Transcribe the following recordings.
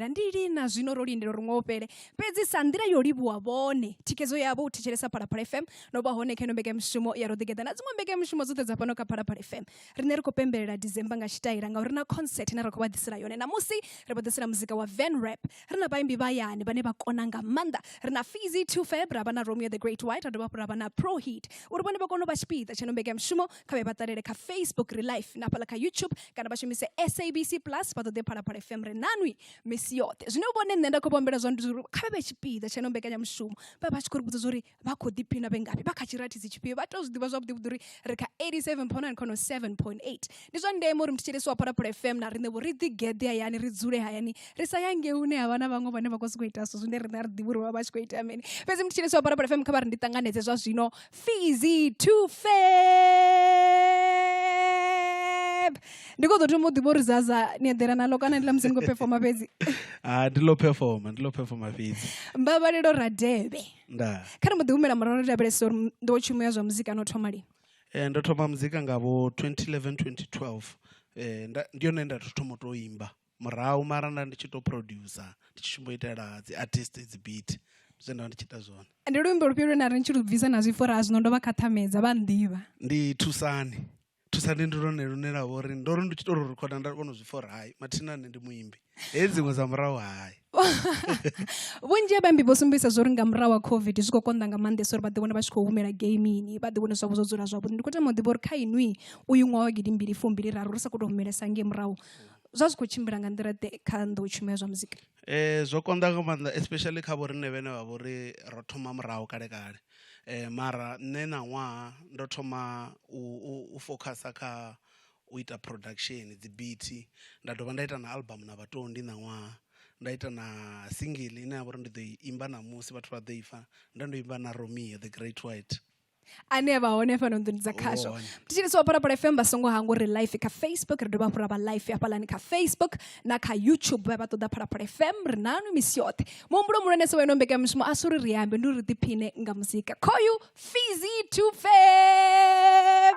lindela ndi lina zwino ro lindela uri ṅwaha u fhele fhedzi sa nḓila yo livhuwa vhone thikedzo yavho u thetshelesa phalaphala fm no vha hone kha ino mbekanyamushumo ya roḓigeḓa na dziṅwe mbekanyamushumo dzoṱhe dza fhano kha phalaphala fm riṋe ri khou pembelela december nga tshitaila ngauri na concert ine ra khou vha ḓisela yone namusi ri vha ḓisela muzika wa van rap ri na vhaimbi vhayani vhane vha kona nga maanḓa ri na fizi two fab ra vha na romeo the great white ra dovha hafhu ra vha na pro heat uri vhone vha kone u vha tshipiḓa tsha ino mbekanyamushumo kha vhe vha ṱalele kha facebook ri life na hafhaḽa kha youtube kana vha shumise sabc plus vha ṱoḓe phalaphala fm ri nanwi misi yoṱhe zwine vhone nṋe nda khou vhombela zwone ndi zwauri kha vhe vhe tshipiḓa tsha no mbekanyamushumo vha vha tshi khou ri vhudza zwauri vha khou ḓiphina vhe ngafhi vha kha tshirathizi tshifhio vha tou zwi ḓivha zwavhuḓi vhuḓi uri ri kha 87 point 9 khono 7 point 8 ndi zwa ndeme uri mthetshelesi wa phalaphala fm na riṋe vho ri ḓigeḓe hayani ri dzule hayani ri sa ya ngei hune ha vha na vhaṅwe vhane vha khou sokou ita zwithu zwine riṋe a ri ḓivhi uri vha vha tshi khou ita mini fhedzi mthetshelesi wa phalaphala fm kha vha ri ndi ṱanganedze zwa zwino fizi to fab ndi kho ḓo thoma u ḓivha uri zaza ni eḓela nalo kana ndi ḽa musi ni khou performa fhedzi ah, ndi ḽo performa ndi ḽo performa fhedzi mbabalelo radebe nda kha ri mbo ḓi humela murahu ri lavhelesa uri ndo tshumo ya zwa muzika no thoma lini eh, ndo thoma muzika nga vho 2011 2012 eh, ndi yone nda thoma u tou imba murahu mara nda ndi tshi to producer ndi tshi shumbo itela dzi artist dzi beat ndi zwine nda ndi tshi ita zwone ndi luimbo lufhio lwe na ri ni tshi lu bvisa na zwi fora zwino ndo vha khathamedza vha nḓivha ndi thusani thusani ndi lone lune lwa vha uri ndo ri ndi tshi to lu rikhoda nda kona u zwi fora hai mathina nne ndi muimbi he dziṅwe dza murahu hai vhunzhi ha vhaimbi vho sumbedzisa zwo ri nga murahu wa covid zwi khou konḓa nga maanḓesa uri vha ḓiwane vha tshi khou humela gamini vha ḓiwane zwavho zwo dzula zwavhuḓi ndi khou tama u ḓivha uri kha inwi uyu ṅwaha wa gidi mbili fumbili raru ri sa khou tou humelesa ngei murahu zwa zwi khou tshimbila nga nḓila ḓe kha nḓou tshumelo zwa muzika um zwo konḓa nga maanḓa especially kha vhoriṋe vhene vha vhori ro thoma murahu kale kale um mara nṋe ṋaṅwaha ndo thoma u focusa kha u ita production dzi beat nda dovha nda ita na album na vhaṱondi ṋaṅwaha nda ita na singiḽi ine ya vha uri ndi ḓo i imba ṋamusi vhathu vha ḓo i pfha ndo no imba na romeo the great white. ane a vha hone fhano nḓuni dza khasho thetshelesi wa phalaphala fm vha songo hangwa uri life kha facebook ri dovha hafhu ra vha life hafhalani kha facebook na kha youtube vha vha ṱoḓa phalaphala fm ri nanu misi yoṱhe muhumbulo muhulwanese wa ino mbekanyamushumo a si uri ri ambe ndi uri ri ḓiphine nga muzika khoyu fizi tufeb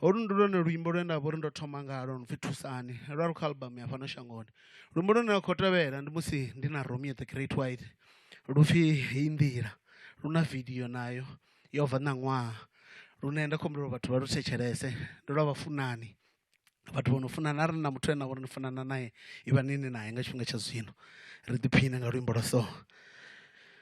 holu ndi lwone luimbo lwe nda vha uri ndo thoma ngalo no pfhi thusani lwa ri kha album ya fhano shangoni luimbo lune lwa khou tevhela ndi musi ndi na romeo the great white lu pfhi heyi nḓila lu na video nayo yo bva ṋaṅwaha lune nda khou humbela uri vhathu vha lu thetshelese ndi lwa vhafunani vhathu vho no funana arali na muthu ane a vha uri ni funana nae ivhani ni nae nga tshifhinga tsha zwino ri ḓiphiṋe nga luimbo lwa so.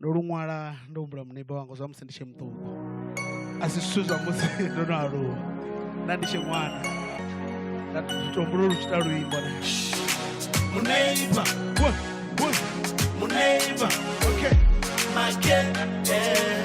ndo lu ṅwala ndo humbula mubebi wanga zwa musi ndi tshe muṱuku a si zwithu zwa musi ndo no aluwa nda ndi tshe ṅwana nda to humbula lu tshi ita luimbo na muneiba muneiba okay make eh.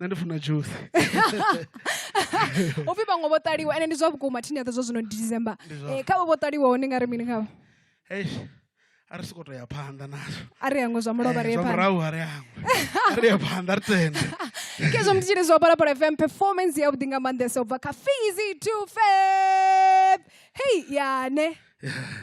nṋe ndi funa juice upfhi vhaṅwe vho ṱaliwa ende ndi zwa vhukuma thini yaṱa zwa zwino ndi december eh, khavho vho ṱaliwaho ni nga ri mini khavho eish a ri soko to ya phanḓa nazwo a ri hangwe zwa mulovha ri ye eh, phanḓa murahu a ri hangwe a ri ye phanḓa ri tende kezwo mntu tshiri zwa palapala fm performance yavhuḓi nga maanḓesa u bva kha fizi to fab hei yane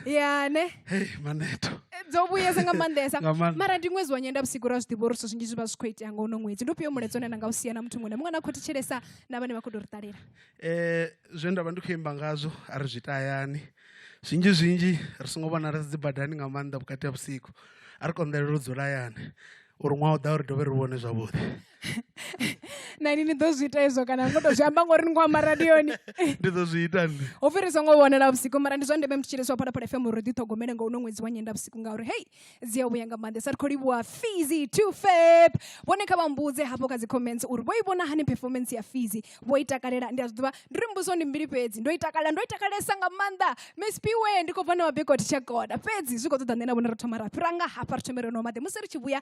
ya ne hey maneto dzo vhuyesa nga maanḓesa Nga maanḓa. mara ndi ṅwedzi wa nyenda vhusiku ra zwi ḓivha uri zwithu zwinzhi zwi vha zwi khou itea nga uno ṅwedzi ndi ufhio mulaedza une na nga u sia na muthu muṅwe na muṅwe na khou thetshelesa na vhane vha khou tou ri ṱalela eh zwe nda vha ndi khou imba ngazwo a ri zwi tayani zwinzhi zwinzhi ri songo vhona ri dzi badani nga maanḓa vhukati ha vhusiku a ri konḓelela u dzula hayani uri ṅwaha u ḓa uri dovhe ri vhone zwavhuḓi na ini ni ḓo zwi ita hezwo kana ngo tou zwi amba ngori ni khou amba radioni ndi ḓo zwi ita nne ho fhiri songo vhonela vhusiku mara ndi zwa ndeme muthu tshiliswa phalaphala fm uri ḓiṱhogomele nga uno ṅwedzi wa nyenda vhusiku ngauri hei dzi a vhuya nga maanḓesa ri khou livhuwa fizi to fep vhone kha vha mbudze hafho kha dzi comments uri vho i vhona hani performance ya fizi vho i takalela ndi a zwi ḓivha ndi ri mbudziso ndi mbili fhedzi ndo i takalela ndo i takalesa nga maanḓa miss piwe ndi khou bva na mabekoti tsha goda fhedzi zwi khou ṱoḓa nṋe na vhone ro thoma ra fhira nga hafha ri thome ro nwa maḓi musi ri tshi vhuya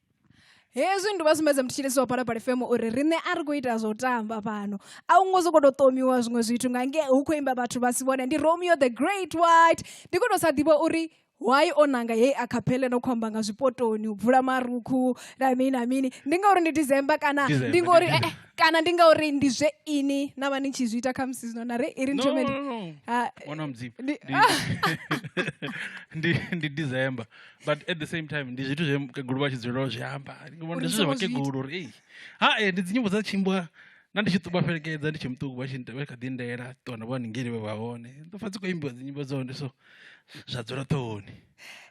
hezwi ndi vha sumbedza muthu tshilisiwa phala phala fm uri riṋe a ri khou ita zwo tamba fhano a u ngo soko to ṱomiwa zwiṅwe zwithu nga nge hu khou imba vhathu vha si vhone ndi romeo the great white ndi khou to sa ḓivha uri why o nanga heyi akhaphele no khou amba nga zwipotoni u bvula marukhu na mini na mini ndi ngauri ndi december kana December, ndi ngauri ndi eh, eh, kana ndi ngauri ndi zwe ini na vha ni tshi zwi ita khamusi zwino na re i ri no, nthomeni no, no. Ah, wana mudzimu ndi- Ndi- ndi ndi december but at the same time ndi zwithu zwe mukegulu vha tshi dzulela u zwi amba ndi ngomba ndi Uri zwithu zwa songo zwi ita. vhakegulu uri ei ha e ndi dzinyimbo dza tshimbwa na ndi tshi ṱuba fhelekedza ndi tshe muṱuku vha tshi nda- vha kha ḓi ndela ṱuwa na vho haningeli vhe vha hone ndo pfa dzi khou imbiwa dzinyimbo dza hone so zwa dzula ṱhohoni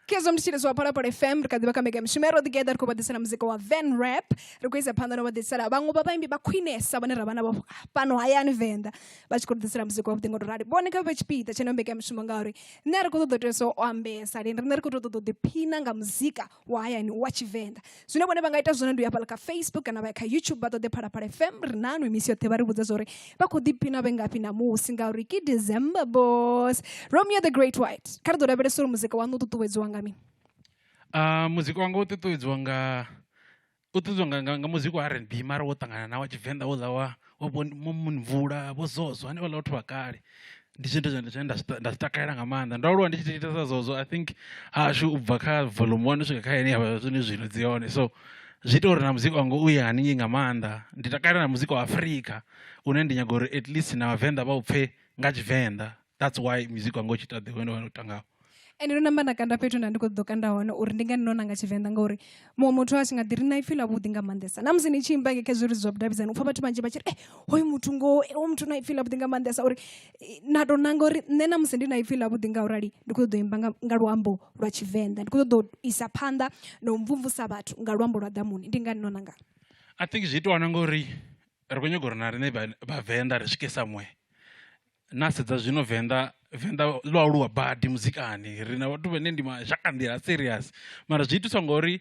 kezo mutshile zwa phalaphala fm ri kha ḓivha kha mbeka mishumo ya ro ḓigeda ri khou vha ḓisela muzika wa van rap ri khou isa phanḓa no vha ḓisela vhaṅwe vha vhaimbi vha khwinesa vhane ra vha navho fhano hayani venḓa vha tshi khou ri ḓisela muzika wa vhuḓi ngo to rali vhone kha vhe tshipiḓa tsheneo mbeka mishumo ngauri nṋe a ri khou ṱoḓa u tea so o ambesa lini riṋe ri khou tou ṱoḓa u ḓiphina nga muzika wa hayani wa tshivenḓa zwine vhone vha nga ita zwone ndi u ya fhala kha facebook kana vha ya kha youtube vha ṱoḓe phalaphala fm ri nanu misi yoṱhe vha ri vhudza zwa uri vha khou ḓiphina vhe ngafhi namusi ngauri ke december bos romeo the great white kha ri ḓo lavhelesa uri muzika waṋu u ṱuṱuwedziwa nga mini uh, muzika wanga u ṱuṱuwedziwa nga u ṱuṱuwedzwa nga nga nga muzika wa rnb mara wo ṱangana na wa tshivenḓa houḽa wa wa vho mvula vho zoso hanevhaḽa vhathu vha kale ndi tshithu tshine nda zwi nda zwi takalela nga maanḓa ndo aluwa ndi tshi thetshelesa zwezwo I think hahashu ubva kha volume one u swika kha ine yavha zwenezwi zwino dzi hone so zwi ita uri na muzika wanga uye haningei nga maanḓa ndi takalela na muzika wa Afrika une ndi nyaga uri at least na vhavenḓa vha u pfhe nga tshivenḓa. that's why music wanga u tshi ita the way ndo tangaho ende ndo namba nda kanda fhethu nda ndi khou ḓo kanda hone uri ndi ngani ndo nanga tshivenḓa ngauri muṅwe muthu a tshi nga ḓi ri na ipfhi ḽa vhuḓi nga maanḓesa na musi ni tshi imba khe zwiri zwa vhudavhidzani u pfha vhathu vhanzhi vha tshi ri e hoyu muthu ngo o muthu na ipfhi ḽa vhuḓi nga maanḓesa uri na tou nanga uri nṋe na musi ndi na ipfhi ḽa vhuḓi nga urali ndi khou ṱoḓa u imba nga luambo lwa tshivenḓa ndi khou ṱoḓa u isa phanḓa na u mvumvusa vhathu nga luambo lwa ḓamuni ndi ngani no nanga i think zwi itiwa na ngori ri khou nyaga uri na riṋe vhavenḓa ri swike somewhere na sedza zwino venḓa venḓa ḽo aluwa badi muzikani ri na vhathu vhane ndi mashaka nḓila a serious mara zwi itiswa ngori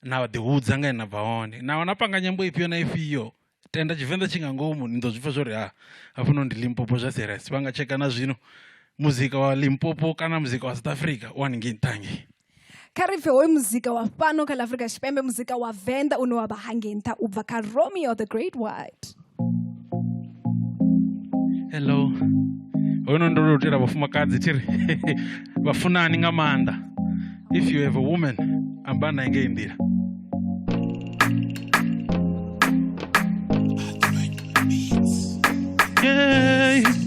na ḓi hudza nga na bva hone na wana panga nyambo ifhio na ifhio tenda tshivenḓa tshi nga ngomu ni ḓo zwipfa zwori ha ah, hafhano ndi limpopo zwa serious vha nga tsheka na zwino muzika wa limpopo kana muzika wa south africa u haningei nṱha hangei kha ri pfhe hoyu muzika wa fhano kha ḽa afurika tshipembe muzika wa venḓa une wa vha hangei nṱha u bva kha romeo the great white hello hoyunoni ndo tou itela vhafumakadzi thi ri vhafunani nga maanḓa if you have a woman amba naye ngei nḓila yeah.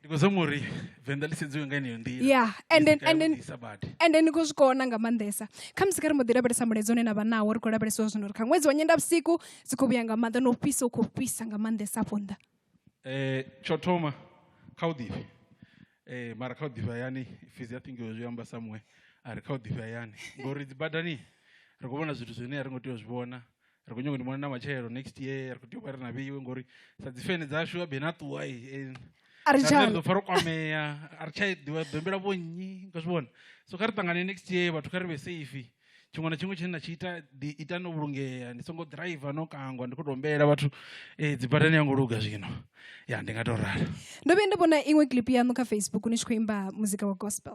ndi khou zama uri venḓa ḽi sedziwe nga yeneyo nḓila ya and then and then and then ni khou zwi kona nga maanḓesa kha musi kha ri mbo ḓi lavhelesa mulaedza une na vha nawo ri khou lavhelesa zwino uri kha ṅwedzi wa nyenda vhusiku dzi khou vhuya nga maanḓa no fhisa u khou fhisa nga maanḓesa afho nnḓa um tsho thoma kha u ḓifhe um mara kha u ḓifhe hayani fizi ya thingiwe zwi amba samuwe a ri kha u ḓifhe hayani ngori dzi badani ri khou vhona zwithu zwine a ri ngo tea u zwi vhona ri kho nyaga ndi mona na matshelo next year ri kho tea u vha ri na vheiwe ngori sa dzi fene dzashu abe na ṱuwa eh, a ri tsha ḓo pfa ro kwamea a ri tsha ḓivha bembela vho nnyi nga zwi vhona so kha ri ṱangane next year vhathu kha ri vhe safe tshiṅwe na tshiṅwe tshine na tshi ita ḓi ita no vhulungea ndi songo driver no kangwa ndi khou tou humbela vhathu eh, dzi badani ya ngo luga zwino ya ndi nga tou rala ndo vhuya nda vhona iṅwe clip yaṋu kha facebook ni tshi khou imba muzika wa gospel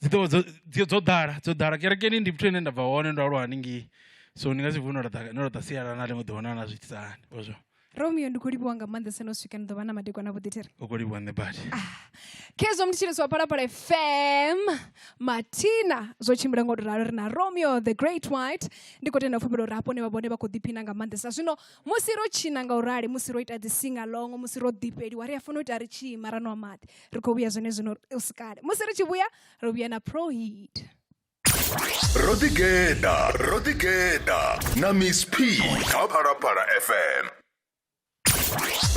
dzi ḓovha dzo dzo dzo ḓala dzo ḓala kerekeni ndi fhethu hune nda bva hone ndo aluwa hanengei so ndi nga si vuwe no laṱa no laṱa sialala na ḽiṅwe ḓuvha na na zwi itisa hani ozwo romeo ndi khou livhuwa nga maanḓesa no swika ni ḓo vha na madekwana a vhuḓithiri u khou livhuwa nṋe badi khezwo mthetshelesi wa phalaphala fm mathina zwo tshimbila ngo to ralo ri na romeo the great white ndi khou tenda pfhumbelo uri hapone vha vhone vha khou ḓiphina nga maanḓesa zwino musi ro tshina nga u rali musi ro ita dzi singalongo musi ro ḓifheliwa ri a fanela u ita ri tshi ima ra nwa maḓi ri khou vhuya zwone zwino u si kale musi ri tshi vhuya ri vhuya na prohit ro ḓigeda ro ḓigeda na miss p kha phalaphala fm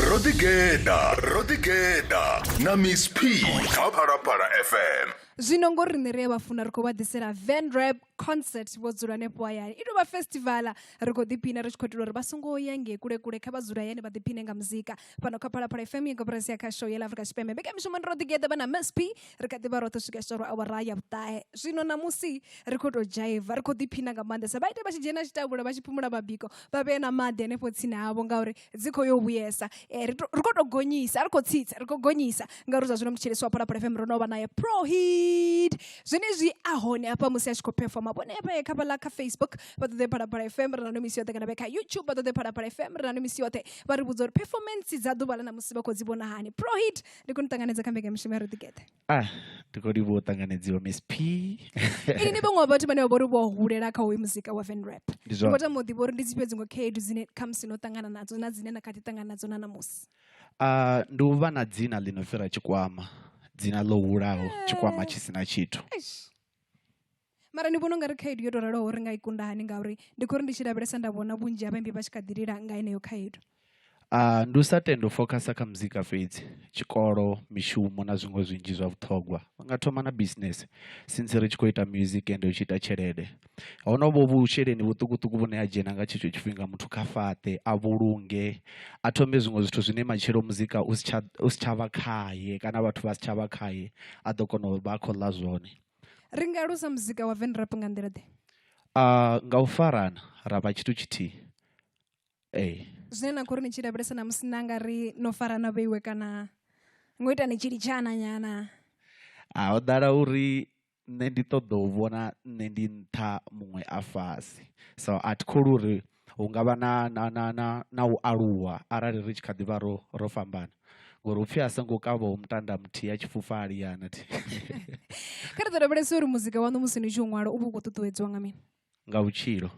ro ḓigeda ro ḓigeda na miss p kha phalaphala fm zwino ngo riṋe ri a vha funa ri khou vha ḓisela van rap concert vho dzula hanefho hayani i tovha festival ri khou ḓiphina ri tshi khou itela uri vha songo ya ngei kule kule kha vha dzula hayani vha ḓiphine nga muzika fhano kha phalaphala fm ya goporasi ya kha show ya la afrika tshipembe mbekamishumo ndi ro ḓigeḓa vha na msp ri kha ḓivha roṱhe swika tshitoro awara ya vhuṱahe zwino ṋamusi ri khou tou dzhaiva ri khou ḓiphina nga maanḓesa vha ite vha tshi dzhena tshitavhula vha tshi phumula mabiko vha vhee na maḓi hanefho tsini havho ngauri dzi khou yo vhuyesa um ri ri khou tou gonyisa a ri khou tsitsa ri khou gonyisa ngauri zwa zwino mutshilisi wa phalaphala fm ro no vha naye prohid zwenezwi a hone hafha musi a tshi khou performa vhone hafha kha vhala kha facebook vha ṱoḓe phalaphala fm ri na no misi yoṱhe kana vhe kha youtube vha ṱoḓe phalaphala fm ri na no misi yoṱhe vha ri vhudza uri performance dza ḓuvha ḽa na musi vha khou dzi vhona hani prohid ndi khou ni ṱanganedza kha mbekanyamishumo ya ro ḓigeḓa Ah, ndi khou livhuwa u ṱanganedziwa miss p ini ni vhaṅwe wa vhathu vhane vha vhori vho hulela kha hoyu muzika wa van rap Ndi ndi zwone. khou tama u ḓivha uri ndi dzifhio dziṅwe khaedu dzine khamusi no ṱangana nadzo na dzine na kha ḓi ṱangana nadzo na ṋamusi Ah, ndi u vha na dzina ḽi no fhira tshikwama dzina ḽo hulaho tshikwama tshi si na tshithu Eish. mara ni vhona ungari khaedu yo to raloho ri nga i kunda hani ngauri ndi khou ri ndi tshi lavhelesa nda vhona vhunzhi ha vhaimbi vha tshi kha ḓi lila nga heneyo khaedu Uh, ndi u sa tenda u focusa kha muzika fhedzi tshikolo mishumo na zwiṅwe zwinzhi zwa vhuṱhogwa u nga thoma na business since ri tshi khou ita music ende u tshi ita tshelede honovho vhusheleni vhuṱukuṱuku vhune a dzhena nga tshetsho tshifhinga muthu kha fhaṱe a vhulunge a thome zwiṅwe zwithu zwine matshelo muzika u si tsha vha khaye kana vhathu vha si tsha vha khaye a ḓo kona u vha a khou ḽa zwone Ri nga alusa muzika wa venrap nga nḓila ḓe? Nga u farana ra vha tshithu tshithihi ee. Zwine na khou ri ni tshi lavhelesa ṋamusi na nga ri no farana vheiwe kana ngo ita ni tshi litshana nyana? Ho ḓala uri nṋe ndi ṱoḓa u vhona nṋe ndi nṱha muṅwe a fhasi so a thi kholwi uri hu ngavha na na na na na u aluwa arali ri tshi kha ḓivha ro ro fhambana, ngori hupfhi a songo kavhaho mutanda muthihi a tshifhufa a liyana thi. Kha ri ḓo lavhelesa uri muzika waṋu musi ni tshi u ṅwala u vha u khou ṱuṱuwedziwa nga mini? Nga vhutshilo.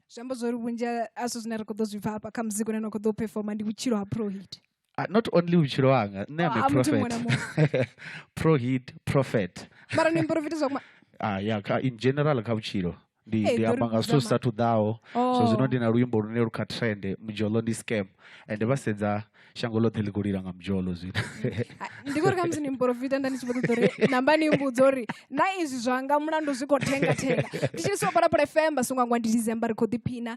Zwi amba zwori vhunzhi ha zwithu zwine ra kho ḓo zwi pfha hafha kha muzika une na kho ḓo u performer ndi vhutshilo ha Prohit. Ah, not only vhutshilo hanga nṋe am a Ah, muthu muṅwe na prophet pro hit prophet mara ni mporofita zwa kuma ah, ya kha, in general kha vhutshilo ndi Hey, ndi ḓo amba ri nga zwithu zwi sa dzama. thu ḓaho so Oh. zwino ndi na luimbo lune lu kha trend mujolo ndi scam and vha sedza shango ḽoṱhe ḽi khou lila nga mujolo zwino Ah, ndi kuri khamusi ni mporofita nda ndi tshi vho ṱoḓa uri namba ni mbudza uri na izwi zwanga mulandu zwi khou thenga thenga ndi tshi so palapala fm vha songo angwa ndi december ri khou ḓiphina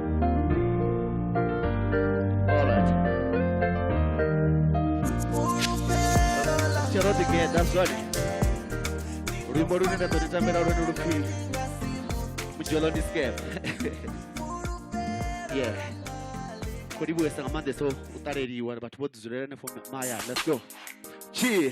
tsherodigeda zwone luimbo lune nda ḓo ri tambela lwone lupfhi mudzhelo ndi scam ye kho livhuwesa nga maanḓesa u ṱaleliwa vhathu vho ḓi dzulela henefho mahayani let's go tshie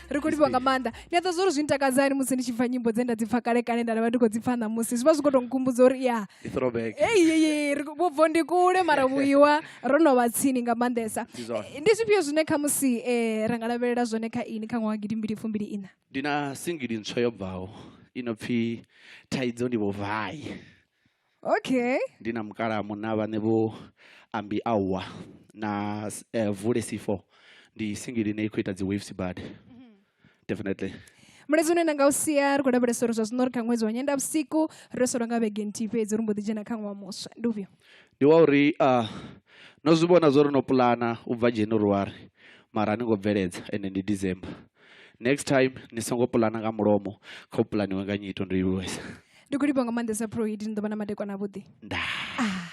ri khou livhiwa nga maanḓa ndi a ḓa zwo uri zwi ntakadza hani musi ndi tshi pfa nyimbo dze nda dzi pfa kale kale nda vha ndi khou dzi pfa ṋamusi zwi vha zwi khou tou nkhumbudza uri ya eyi vhubvo ndi kule mara vhuiwa ro no vha tsini nga maanḓesa eh, ndi zwifhio zwine kha musi um eh, ra nga lavhelela zwone kha ini kha ṅwaha gidi mbili fumbili ina ndi na singili ntswa yo bvaho i no pfhi thaidzo ndi vhuvai okay ndi na mukalaha munna vhaṋe vho ambi awa na uh, vule c4 ndi singili ine i khou ita dzi waves bad mm-hmm. definitely mulezi une nda nga u sia ri khou lavhelesa uri zwa zwino ri kha ṅwedzi wa nyenda vhusiku ro solwa nga vhege nthihi fhedzi ri mbo ḓi dzhena kha ṅwaha muswa ndi ufhio ndi wa uri uh, no zwi vhona zwo ri no pulana u bva january mara ni ngo bveledza ende ndi december next time ni songo pulana nga mulomo kha u pulaniwe nga nyito ndo i vhuesa ndi khou livha nga maanḓesa proid ni ḓo vha na madekwana avhuḓi ah,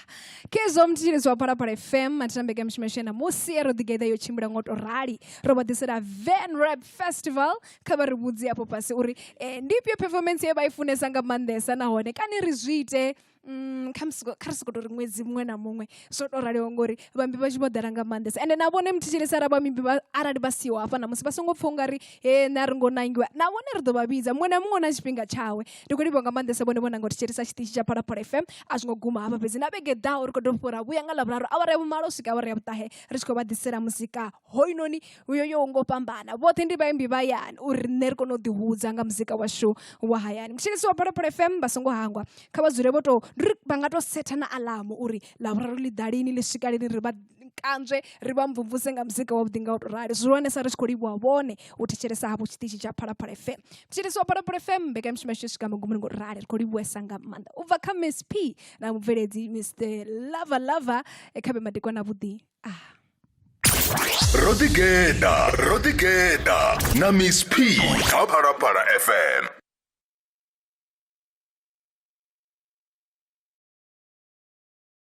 kezwo mthitsheledzo wa phalaphala fm matitambeke mishimeshe na musi ro ḓigeḓa yo tshimbila ngo to rali ro vha ḓisela van rap festival kha vha ri vhudzi afho fhasi uri eh, ndi ifhio performance ye vha i funesa nga maanḓesa nahone kani ri zwi ite mm, kha ri sokou tou ri ṅwedzi muṅwe na muṅwe zwo to raliho ngori vhambi vha tshi vho ḓala nga maanḓesa ende na vhone muthetshelesi ara vhambi arali vha siho hafha na musi vha songo pfha ungari he na ri ngo nangiwa na vhone ri ḓo vha vhidza muṅwe na muṅwe na tshifhinga tshawe ndi khou livhiwa nga maanḓesa vhone vhona nga u thetshelesa tshiṱitshi tsha phalaphala fm a zwi ngo guma hafha fhedzi na vhege ḓaho ri khou tou fhura vhuya nga ḽavhuraru awara ya vhumalo u swika awara ya vhuṱahe ri tshi khou vha ḓisela muzika hoyunoni uyo yo ngo fhambana vhoṱhe ndi vhaimbi vha yani uri riṋe ri kone u ḓihudza nga muzika washu wa hayani mutshelesi wa phalaphala fm vha songo hangwa kha vha dzule vho to ri vha nga to setha na alamu uri lavhuraru ḽi ḓa lini ḽi swika lini ri vha kanzwe ri vha mvumvuse nga muzika wavhuḓi nga u to rali zwihulwanesa ri tshi khou livhuwa vhone u thetshelesa hafhu tshiṱitshi tsha phalaphala fm mutshelesi wa phalaphala fm mbekanyamushumo yashu yo swika magumuni ngo rali ri khou livhuwesa nga maanḓa u bva kha miss p na mubveledzi mr lava lava kha vhe madekwana avhuḓi ah ro ḓigeḓa ro ḓigeḓa na miss p kha phalaphala fm